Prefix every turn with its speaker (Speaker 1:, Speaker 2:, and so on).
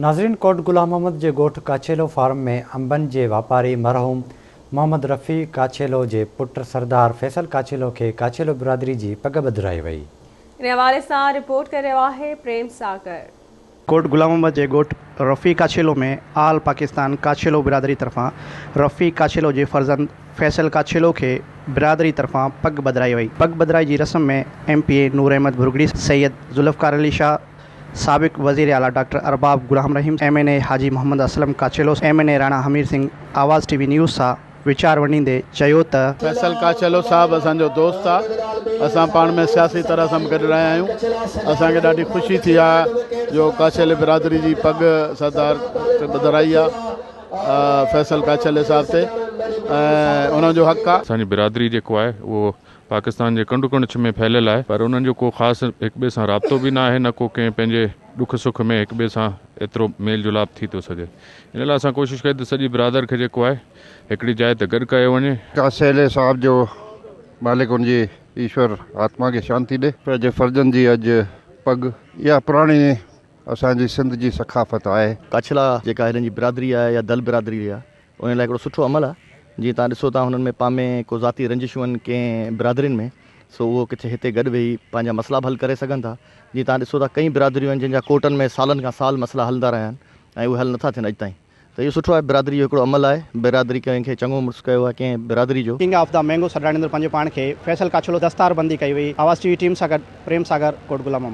Speaker 1: ناظرين ڪوٽ غلام محمد جي ڳوٺ ڪاڇيلو فارم ۾ انبن جي واپاري مرحوم محمد رفيع ڪاڇيلو جي پٽ سردار فيصل ڪاڇيلو کي ڪاڇيلو برادري جي پڳ ٻڌرائي وئي. ان حوالي
Speaker 2: سان رپورٽ ڪري رهيو آهي پريم ساگر. ڪوٽ غلام
Speaker 3: محمد جي ڳوٺ رفيع ڪاڇيلو ۾ آل پاڪستان ڪاڇيلو برادري طرفان رفيع ڪاڇيلو جي فرزند فيصل ڪاڇيلو کي برادري طرفان پڳ ٻڌرائي وئي. پڳ ٻڌرائي جي رسم ۾ M P A Noor Ahmed Bhurgari, Syed Zulfiqar Ali Shah, سابق وزير اعليٰ doctor Arbab Ghulam Rahim, M N A Haji Muhammad Aslam Kachhelo, M N A Rana Hamir Singh Awaz T V news سان ويچار ونڊيندي چيو ته، فيصل ڪاڇيلو
Speaker 4: صاحب اسان جو دوست آ، اسان پاڻ ۾ سياسي طرح سان به گڏ رهيا آهيون، اسان کي ڏاڍي خوشي ٿي آ جو ڪاڇيلي برادري جي پڳ سردار تي ٻڌرائي آ فيصل ڪاڇيلي صاحب تي ۽ انهن جو حق آ. اسان جي برادري جيڪو آهي
Speaker 5: اهو پاڪستان جي ڪنڊ ڪڙڇ ۾ ڦهليل آهي پر انهن جو ڪو خاص هڪ ٻئي سان رابطو به نه آهي نه ڪو ڪنهن پنهنجي ڏک سک ۾ هڪ ٻئي سان ايترو ميل جلاپ ٿي ٿو سگهي ان لاء اسان ڪوشش ڪئي ته سڄي برادر کي جيڪو آهي هڪڙي جاء تي گڏ ڪيو وڃي. ڪا سيلي صاحب جو
Speaker 6: مالڪ ان جي ايشور آتما کي شانتي ڏي. پنهنجي فرضن جي اڄ پڳ. اها پراڻي اسان جي سنڌ جي ثقافت آهي. ڪاڇلا جيڪا هنن
Speaker 7: جي برادري آهي يا دل برادري آهي انهن لاء هڪڙو سٺو عمل آهي. جيئن توهان ڏسو ٿا هنن ۾ پامي ڪو ذاتي رنجشون آهن ڪنهن برادرين ۾ سو اهو ڪٿي هتي گڏ ويهي پنهنجا مسئلا به حل ڪري سگهن ٿا. جيئن توهان ڏسو ٿا ڪئين برادريون آهن جن جا ڪورٽن ۾ سالن کان سال مسئلا هلندا رهيا آهن ۽ اهي حل نٿا ٿين اڄ تائين ته اهو سٺو آهي برادري جو هڪڙو عمل آهي برادري ڪنهن کي چڱو مڙس ڪيو آهي ڪنهن برادري جو ڪنگ آف دي مينگو سڏرائڻ
Speaker 3: اندر پنهنجو پاڻ کي فيصل ڪاڇلو دستار بندي ڪئي هئي آواز ٽي وي ٽيم سان گڏ پريم ساگر ڪوٽ غلام محمد.